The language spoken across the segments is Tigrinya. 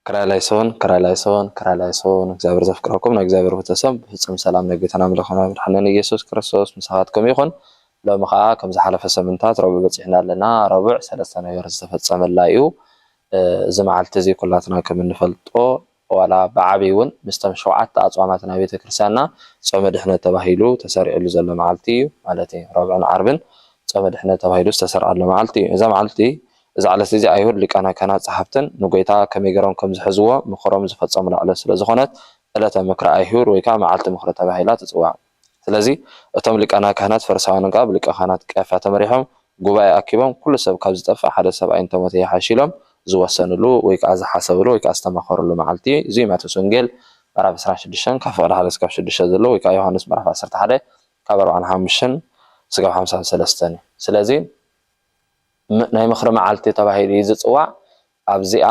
ክራላይሶን ክራላይሶን ክራላይሶን እግዚኣብሔር ዘፍቅረኩም ናይ እግዚኣብሔር ቤተሰብ ብፍጹም ሰላም ናይ ጌታና ኣምላኽና መድሓኒና ኢየሱስ ክርስቶስ ምሳኻትኩም ይኹን ሎሚ ኸኣ ከም ዝሓለፈ ሰምንታት ረቡዕ በጺሕና ኣለና ረቡዕ ሰለስተ ነገር ዝተፈጸመላ እዩ እዚ መዓልቲ እዚ ኩላትና ከም እንፈልጦ ዋላ ብዓቢይ ውን ምስቶም ሸውዓተ ኣጽዋማት ናይ ቤተ ክርስቲያንና ጾመ ድሕነት ተባሂሉ ተሰሪዕሉ ዘሎ መዓልቲ እዩ ማለት ረቡዕን ዓርብን ጾመ ድሕነት ተባሂሉ ዝተሰርዓሉ መዓልቲ እዩ እዛ መዓልቲ እዛ ዕለት እዚኣ ኣይሁድ ሊቃነ ካህናት ጸሓፍትን ንጎይታ ከመይ ገሮም ከም ዝሕዝዎ ምኽሮም ዝፈጸሙላ ዕለት ስለ ዝኾነት ዕለተ ምክረ ኣይሁድ ወይ ከኣ መዓልቲ ምኽሪ ተባሂላ ትጽዋዕ። ስለዚ እቶም ሊቃና ካህናት ፈሪሳውያንን ከኣ ብሊቀ ካህናት ቀያፋ ተመሪሖም ጉባኤ ኣኪቦም ኩሉ ሰብ ካብ ዝጠፍእ ሓደ ሰብኣይ እንተ ሞተ ይሓይሽ ኢሎም ዝወሰንሉ ወይ ከኣ ዝሓሰብሉ ወይ ከኣ ዝተማኸርሉ መዓልቲ እዚ'ዩ ማቴዎስ ወንጌል ምዕራፍ ዕስራን ሽዱሽተን ካብ ፍቕዲ ሓደ ስጋብ ሽዱሽተ ዘሎ ወይ ከኣ ዮሓንስ ምዕራፍ ዓሰርተ ሓደ ካብ ኣርብዓን ሓሙሽን ስጋብ ሓምሳን ሰለስተን እዩ ስለዚ ናይ ምኽሪ መዓልቲ ተባሂሉ እዩ ዝጽዋዕ። ኣብዚኣ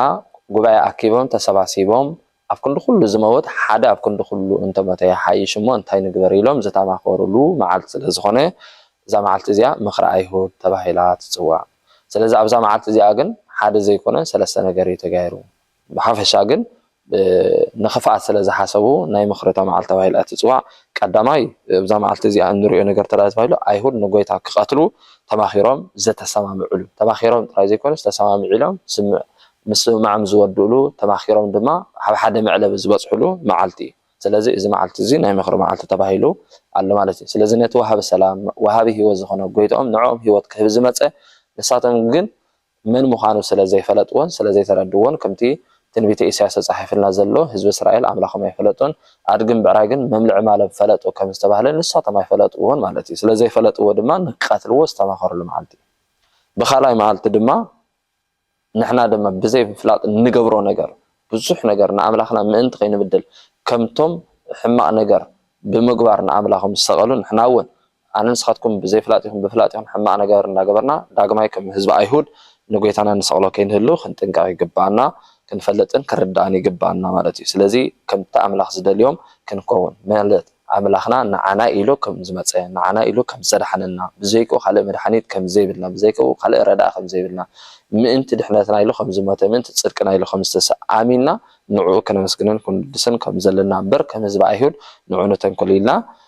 ጉባኤ ኣኪቦም ተሰባሲቦም ኣብ ክንዲ ኩሉ ዝመውት ሓደ ኣብ ክንዲ ኩሉ እንተሞተ ይሓይሽ እሞ እንታይ ንግበር ኢሎም ዝተማኸሩሉ መዓልቲ ስለ ዝኾነ እዛ መዓልቲ እዚኣ ምኽሪ ኣይሁድ ተባሂላ ትጽዋዕ። ስለዚ ኣብዛ መዓልቲ እዚኣ ግን ሓደ ዘይኮነ ሰለስተ ነገር እዩ ተጋይሩ። ብሓፈሻ ግን ንኽፍኣት ስለ ዝሓሰቡ ናይ መኽረታ መዓልቲ ተባሂላ ትጽዋዕ። ቀዳማይ እብዛ መዓልቲ እዚኣ እንርእዮ ነገር እንተ ተባሂሉ ኣይሁድ ንጎይታ ክቐትሉ ተማኺሮም ዘተሰማምዕሉ ተማኺሮም ጥራይ ዘይኮነስ ተሰማሚዒሎም ስምዕ ምስምማዕም ዝወድእሉ ተማኺሮም ድማ ኣብ ሓደ መዕለቢ ዝበጽሕሉ መዓልቲ እዩ። ስለዚ እዚ መዓልቲ እዚ ናይ መኽሪ መዓልቲ ተባሂሉ ኣሎ ማለት እዩ። ስለዚ ነቲ ወሃቢ ሰላም ወሃቢ ህይወት ዝኾነ ጎይትኦም ንዕኦም ህይወት ክህብ ዝመጸ ንሳቶም ግን መን ምዃኑ ስለ ዘይፈለጥዎን ስለ ዘይተረድዎን ከምቲ ትንቢተ ኢሳያስ ተጻሒፍልና ዘሎ ህዝቢ እስራኤል ኣምላኾም ኣይፈለጦን ኣድግን ብዕራይግን መምልዒ ማሎም ፈለጡ ከም ዝተባህለ ንሳቶም ኣይፈለጥዎን ማለት እዩ ስለ ዘይፈለጥዎ ድማ ንክቀትልዎ ዝተማኸርሉ መዓልቲ እዩ ብኻልኣይ መዓልቲ ድማ ንሕና ድማ ብዘይ ምፍላጥ እንገብሮ ነገር ብዙሕ ነገር ንኣምላኽና ምእንቲ ከይንብድል ከምቶም ሕማቕ ነገር ብምግባር ንኣምላኾም ዝሰቐሉ ንሕና እውን ኣነን ንስኻትኩም ብዘይፍላጥ ይኹን ብፍላጥ ይኹን ሕማቕ ነገር እንዳገበርና ዳግማይ ከም ህዝቢ ኣይሁድ ንጎይታና ንሰቕሎ ከይንህሉ ክንጥንቀቕ ይግብኣና፣ ክንፈልጥን ክንርዳእን ይግብኣና ማለት እዩ። ስለዚ ከምቲ ኣምላኽ ዝደልዮም ክንከውን ማለት ኣምላኽና ንዓና ኢሉ ከም ዝመጸ ንዓና ኢሉ ከም ዘድሓነና ብዘይክኡ ካልእ መድሓኒት ከም ዘይብልና ብዘይክኡ ካልእ ረዳኢ ከም ዘይብልና ምእንቲ ድሕነትና ኢሉ ከም ዝሞተ ምእንቲ ጽድቅና ኢሉ ከም ዝተሰ ኣሚንና ንዕኡ ከነመስግንን ክንውድስን ከም ዘለና እምበር ከም ህዝቢ ኣይሁድ ንዑ ንተንኮል ኢልና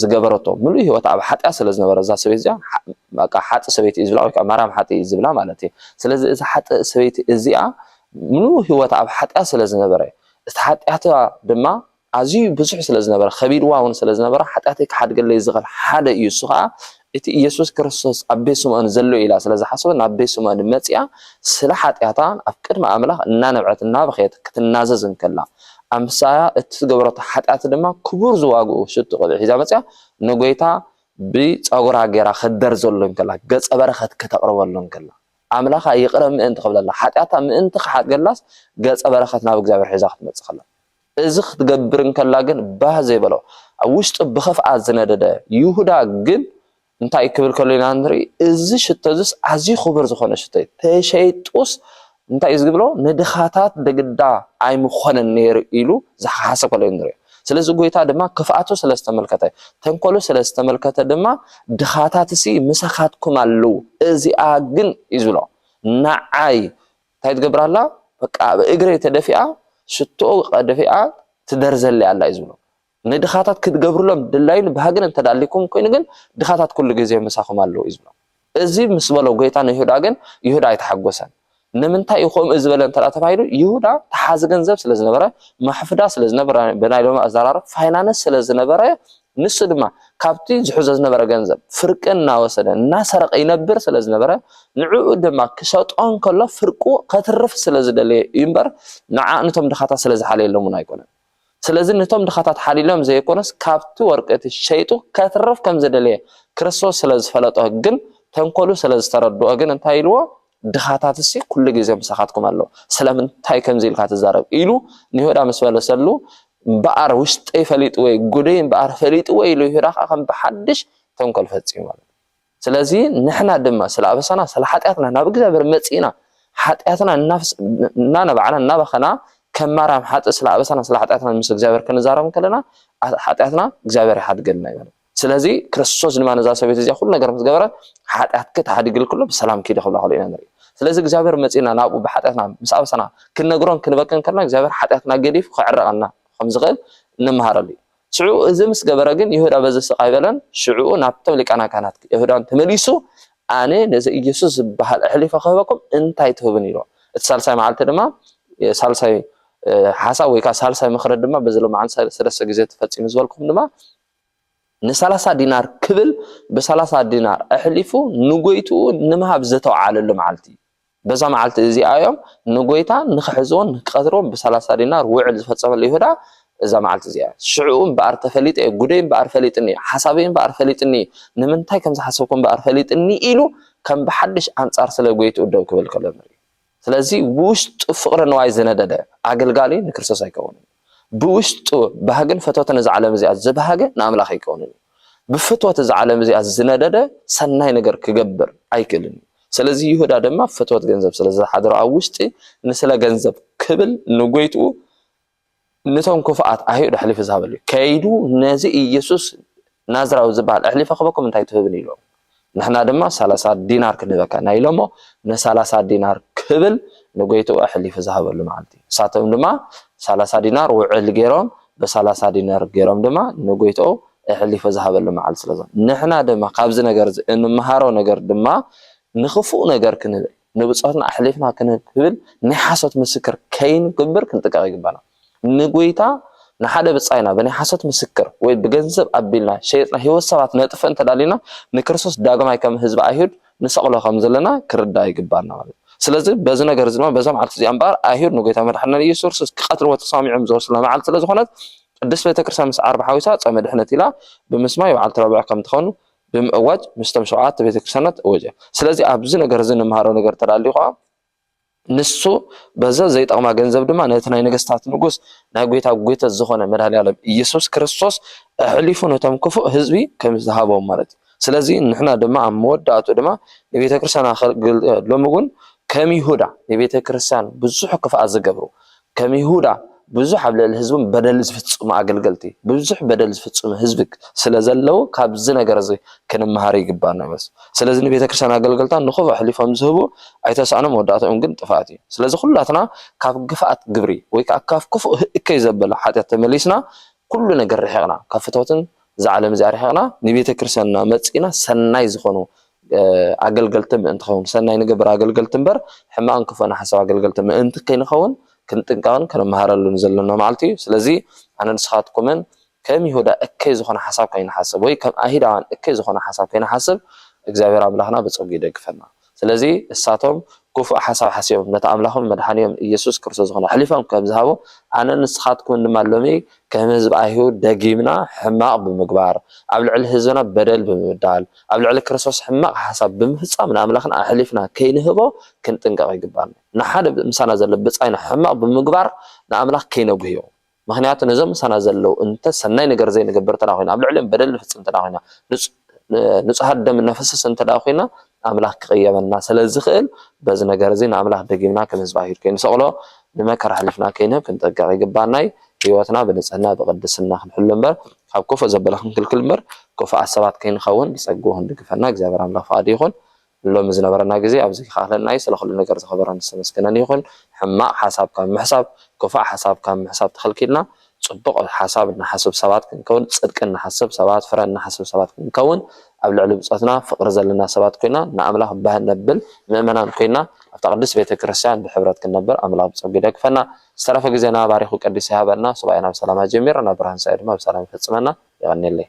ዝገበረቶ ምሉእ ሂወታ ኣብ ሓጥያት ስለ ዝነበረ እዛ ሰበይቲ እዚኣ በቃ ሓጥእ ሰበይቲ እዩ ዝብላ ወይ ከዓ ማርያም ሓጥእ እዩ ዝብላ ማለት እዩ። ስለዚ እዚ ሓጥእ ሰበይቲ እዚኣ ምሉእ ሂወታ ኣብ ሓጥያት ስለ ዝነበረ እቲ ሓጥያታ ድማ ኣዝዩ ብዙሕ ስለ ዝነበረ ከቢድዋ እውን ስለ ዝነበረ ሓጥያተይ ክሓድገለይ ዝኽእል ሓደ እዩ እሱ ከዓ እቲ ኢየሱስ ክርስቶስ ኣብ ቤት ስምኦን ዘሎ ኢላ ስለ ዝሓሰበት ናብ ቤት ስምኦን መጺኣ ስለ ሓጢኣታ ኣብ ቅድሚ ኣምላኽ እናነብዐት እናበኸየት ክትናዘዝ እንከላ ኣምሳያ እቲ ዝገበረቶ ሓጢኣት ድማ ክቡር ዝዋግኡ ሽቱ ቅብዒ ሒዛ መጺኣ ንጎይታ ብጸጉራ ገይራ ክትደርዘሉ እንከላ ገጸ በረኸት ከተቕርበሉ እንከላ ኣምላኻ ይቕረ ምእንቲ ክብለላ ሓጢኣታ ምእንቲ ክሓድገላስ ገጸ በረኸት ናብ እግዚኣብሔር ሒዛ ክትመጽእ ከላ እዚ ኽትገብር እንከላ ግን ባህ ዘይበሎ፣ ኣብ ውሽጡ ብኸፍኣት ዝነደደ ይሁዳ ግን እንታይ ክብል ከሎ ኢና ንርኢ፣ እዚ ሽቶ እዝስ ኣዝዩ ኽቡር ዝኾነ ሽቶ እዩ፣ ተሸይጡስ እንታይ እዩ ዝግብሎ ንድኻታት ብግዳ ኣይምኾነን ነይሩ ኢሉ ዝሓሓሰ ከሎ ኢና ንሪኦ። ስለዚ ጎይታ ድማ ክፍኣቱ ስለ ዝተመልከተ ተንኮሉ ስለ ዝተመልከተ ድማ ድኻታትሲ ምሳኻትኩም ኣለዉ እዚኣ ግን እዩ ዝብሎ ንዓይ እንታይ ትገብር ኣላ በቃ ኣብ እግረይ ተደፊኣ ሽቶ ደፊኣ ትደርዘለይ ኣላ እዩ ዝብሎ ንድኻታት ክትገብርሎም ድላይን ባህግን እንተ ኣልኩም ኮይኑ ግን ድኻታት ኩሉ ግዜ ምሳኹም ኣለዉ እዩ ዝብሎም እዚ ምስ በሎ ጎይታ ንይሁዳ ግን ይሁዳ ኣይተሓጎሰን ንምንታይ እዩ ከምኡ ዝበለ እንተ ተባሂሉ ይሁዳ ተሓዚ ገንዘብ ስለ ዝነበረ ማሕፍዳ ስለ ዝነበረ ብናይ ሎሚ ኣዘራርብ ፋይናንስ ስለ ዝነበረ ንሱ ድማ ካብቲ ዝሕዞ ዝነበረ ገንዘብ ፍርቂ እናወሰደ እናሰረቐ ይነብር ስለ ዝነበረ ንዕኡ ድማ ክሸጦ እንከሎ ፍርቁ ከትርፍ ስለ ዝደለየ እዩ እምበር ንዓ ንቶም ድኻታት ስለ ዝሓለየሎም እውን ኣይኮነን። ስለዚ ንቶም ድኻታት ሓሊሎም ዘየኮነስ ካብቲ ወርቂ እቲ ሸይጡ ከትርፍ ከም ዝደለየ ክርስቶስ ስለ ዝፈለጦ ግን ተንኮሉ ስለ ዝተረድኦ ግን እንታይ ኢልዎ ድኻታትሲ ኩሉ ግዜ ምሳኻትኩም ኣለዉ፣ ስለምንታይ ከምዚ ኢልካ ትዛረብ? ኢሉ ንይሁዳ ምስ መለሰሉ፣ እምበኣር ውሽጠይ ፈሊጥዎ'ዩ፣ ጕደይ እምበኣር ፈሊጥዎ ኢሉ ይሁዳ ኸኣ ከም ብሓድሽ ተንኰል ፈጺሙ ማለት እዩ። ስለዚ ንሕና ድማ ስለ ኣበሳና ስለ ሓጢኣትና ናብ እግዚኣብሔር መጺእና ሓጢኣትና እናነባዕና እናበኸና ከም ማርያም ሓጥእ ስለ ኣበሳና ስለ ሓጢኣትና ምስ እግዚኣብሔር ክንዛረብ እንከለና ሓጢኣትና እግዚኣብሔር ይሓድገልና እዩ ማለት እዩ። ስለዚ ክርስቶስ ድማ ነዛ ሰበይቲ እዚኣ ኩሉ ነገር ምስ ገበረ ሓጢኣትኪ ተሓዲግልኪ ኣሎ ብሰላም ኪዲ ክብላ ከሎ ኢና ንርኢ ስለዚ እግዚኣብሔር መፂና ናብኡ ብሓጢኣትና ምስ ኣብሰና ክንነግሮን ክንበክን ከለና እግዚኣብሔር ሓጢኣትና ገዲፉ ክዕረቐና ከም ዝኽእል ንምሃረሉ እዩ ሽዑ እዚ ምስ ገበረ ግን ይሁዳ በዚ ስቕ ኣይበለን ሽዑኡ ናብቶም ሊቃና ካህናት ይሁዳን ተመሊሱ ኣነ ነዚ ኢየሱስ ዝበሃል ኣሕሊፈ ክህበኩም እንታይ ትህብን ኢሎ እቲ ሳልሳይ መዓልቲ ድማ ሳልሳይ ሓሳብ ወይ ከዓ ሳልሳይ ምክረ ድማ በዚ ሎማዓን ሰለስተ ግዜ ተፈፂሙ ዝበልኩም ድማ ንሰላሳ ዲናር ክብል ብሰላሳ ዲናር ኣሕሊፉ ንጐይትኡ ንምሃብ ዘተውዓለሉ መዓልቲ እዩ። በዛ መዓልቲ እዚኣ እዮም ንጐይታ ንኽሕዝዎን ንኽቀትልዎን ብሰላሳ ዲናር ውዕል ዝፈጸመሉ ይሁዳ እዛ መዓልቲ እዚኣ እያ። ሽዕኡ እምበኣር ተፈሊጠ እየ፣ ጉደይ እምበኣር ፈሊጥኒ እዩ፣ ሓሳበይ እምበኣር ፈሊጥኒ እዩ፣ ንምንታይ ከም ዝሓሰብኩ እምበኣር ፈሊጥኒ ኢሉ ከም ብሓድሽ ኣንጻር ስለ ጐይትኡ ደው ክብል ከሎ ንርኢ። ስለዚ ብውሽጡ ፍቕሪ ንዋይ ዝነደደ ኣገልጋሊ ንክርስቶስ ኣይከውንን እዩ። ብውሽጡ ባህግን ፈትወትን እዛ ዓለም እዚኣ ዝበሃገ ንኣምላኽ ኣይከውንን እዩ። ብፍትወት እዛ ዓለም እዚኣ ዝነደደ ሰናይ ነገር ክገብር ኣይክእልን እዩ። ስለዚ ይሁዳ ድማ ፍትወት ገንዘብ ስለ ዝሓደሮ ኣብ ውሽጢ ንስለ ገንዘብ ክብል ንጎይትኡ ንቶም ክፉኣት ኣይሁድ ኣሕሊፉ ዝሃበሉ እዩ። ከይዱ ነዚ ኢየሱስ ናዝራዊ ዝበሃል ኣሕሊፈ ክበኩም እንታይ ትህብኒ ኢሎም ንሕና ድማ ሰላሳ ዲናር ክንህበካ ኢና ኢሎሞ ንሰላሳ ዲናር ክብል ንጎይትኡ ኣሕሊፉ ዝሃበሉ መዓልቲ ንሳቶም ድማ ሰላሳ ዲናር ውዕል ገይሮም ብሰላሳ ዲናር ገይሮም ድማ ንጎይትኡ ኣሕሊፉ ዝሃበሉ መዓልቲ ስለዞ ንሕና ድማ ካብዚ ነገር እዚ እንመሃሮ ነገር ድማ ንክፉእ ነገር ክንብል ንብጾትና ኣሕሊፍና ክንህብ ክብል ናይ ሓሶት ምስክር ከይንገብር ክንጥቀቕ ይግባና። ንጎይታ ንሓደ ብጻይና ብናይ ሓሶት ምስክር ወይ ብገንዘብ ኣቢልና ሸይጥና ህይወት ሰባት ነጥፍእ እንተዳሊና ንክርስቶስ ዳግማይ ከም ህዝቢ ኣይሁድ ንሰቕሎ ከም ዘለና ክርዳእ ይግባና ማለት እዩ። ስለዚ በዚ ነገር እዚ ድማ በዛ መዓልቲ እዚኣ እምበኣር ኣይሁድ ንጎይታ መድሓንና ኢየሱስ ክርስቶስ ክቐትልዎ ተሰማሚዖም ዝወስላ መዓልቲ ስለ ዝኾነት ቅድስት ቤተክርስትያን ምስ ዓርቢ ሓዊሳ ጾመ ድሕነት ኢላ ብምስማይ በዓልቲ ረቡዕ ከም ትኸኑ ብምእዋጅ ምስቶም ሸውዓተ ቤተ ክርስቲያናት እወጀ። ስለዚ ኣብዚ ነገር እዚ እንምሃሮ ነገር እንተዳልዩ ከኣ ንሱ በዘ ዘይጠቕማ ገንዘብ ድማ ነቲ ናይ ነገስታት ንጉስ ናይ ጎይታ ጎይተት ዝኾነ መድኃኔዓለም ኢየሱስ ክርስቶስ ኣሕሊፉ ነቶም ክፉእ ህዝቢ ከም ዝሃቦም ማለት እዩ። ስለዚ ንሕና ድማ ኣብ መወዳእቱ ድማ ንቤተ ክርስቲያና ሎሚ እውን ከም ይሁዳ ንቤተ ክርስቲያን ብዙሕ ክፍኣት ዝገብሩ ከም ይሁዳ ብዙሕ ኣብ ልዕሊ ህዝቦም በደል ዝፍጽሙ ኣገልገልቲ ብዙሕ በደል ዝፍጽሙ ህዝቢ ስለ ዘለዉ ካብዚ ነገር እዚ ክንመሃር ይግባና ማለት እዩ። ስለዚ ንቤተ ክርስቲያን ኣገልገልታ ንኹብ ኣሕሊፎም ዝህቡ ኣይተሳእኖም መወዳእትኦም ግን ጥፍኣት እዩ። ስለዚ ኩላትና ካብ ግፍኣት ግብሪ ወይ ከኣ ካብ ክፉእ እከይ ዘበለ ሓጢኣት ተመሊስና ኩሉ ነገር ርሒቕና ካብ ፍትወትን እዛ ዓለም እዚኣ ርሒቕና ንቤተ ክርስቲያንና መጺእና ሰናይ ዝኾኑ ኣገልገልቲ ምእንትኸውን፣ ሰናይ ንገብር ኣገልገልቲ እምበር ሕማቕን ክፉእን ሓሳብ ኣገልገልቲ ምእንቲ ከይንኸውን ክንጥንቀቕን ክንመሃረሉን ዘሎና መዓልቲ እዩ። ስለዚ ኣነን ንስኻትኩምን ከም ይሁዳ እከይ ዝኾነ ሓሳብ ከይንሓስብ ወይ ከም ኣይሁዳውያን እከይ ዝኾነ ሓሳብ ከይንሓስብ እግዚኣብሔር ኣምላኽና ብጸጉ ይደግፈና። ስለዚ እሳቶም ክፉእ ሓሳብ ሓሲቦም ነቲ ኣምላኾምን መድሓኒኦምን ኢየሱስ ክርስቶስ ዝኾነ ኣሕሊፎም ከም ዝሃቡ ኣነን ንስኻትኩምን ድማ ሎሚ ከም ህዝቢ ኣይሁድ ደጊምና ሕማቕ ብምግባር፣ ኣብ ልዕሊ ህዝብና በደል ብምብዳል፣ ኣብ ልዕሊ ክርስቶስ ሕማቕ ሓሳብ ብምፍጻም ንኣምላኽና ኣሕሊፍና ከይንህቦ ክንጥንቀቕ ይግብኣና። ንሓደ ምሳና ዘሎ ብጻይና ሕማቕ ብምግባር ንኣምላኽ ከይነጕህዮ። ምኽንያቱ ነዞም ምሳና ዘለዉ እንተ ሰናይ ነገር ዘይንገብር እንተ ኰይና፣ ኣብ ልዕሊኦም በደል ንፍጽም እንተ ኰይና፣ ንጹሃት ደም እነፍስስ እንተ ደኣ ኹይና ኣምላኽ ክቕየመና ስለ ዝኽእል በዚ ነገር እዚ ንኣምላኽ ደጊምና ከም ህዝቢ ኣይሁድ ከይንሰቕሎ ንመከራ ኣሕሊፍና ከይንህብ ክንጥንቀቕ ይግብኣና እዩ። ህይወትና ብንጽህና ብቕድስና ክንሕሉ እምበር ካብ ክፉእ ዘበለ ክንክልክል እምበር ክፉኣት ሰባት ከይንኸውን ብጸግኡ ክንድግፈና እግዚኣብሔር ኣምላኽ ፍቓዱ ይኹን። ሎሚ ዝነበረና ግዜ ኣብዚ ክኣክለና ዩ ስለ ኩሉ ነገር ዝከበረን ዝተመስገነን ይኩን ሕማቅ ሓሳብ ካብ ምሕሳብ ኩፋእ ሓሳብ ካብ ምሕሳብ ተከልኪልና ጽቡቅ ሓሳብ እንሓስብ ሰባት ክንከውን ጽድቂ እንሓስብ ሰባት ፍረ እንሓስብ ሰባት ክንከውን ኣብ ልዕሊ ብጾትና ፍቅሪ ዘለና ሰባት ኮይና ንኣምላክ ባህ ነብል ምእመናን ኮይና ኣብታ ቅድስት ቤተክርስትያን ብሕብረት ክንነብር ኣምላክ ብጸጉ ይደግፈና ዝተረፈ ግዜና ባሪኩ ቀዲሱ ይሃበና ሱባኤና ብሰላም ኣጀሚርና ብርሃን ሱባኤ ድማ ብሰላም ይፈጽመና የቀኔለይ።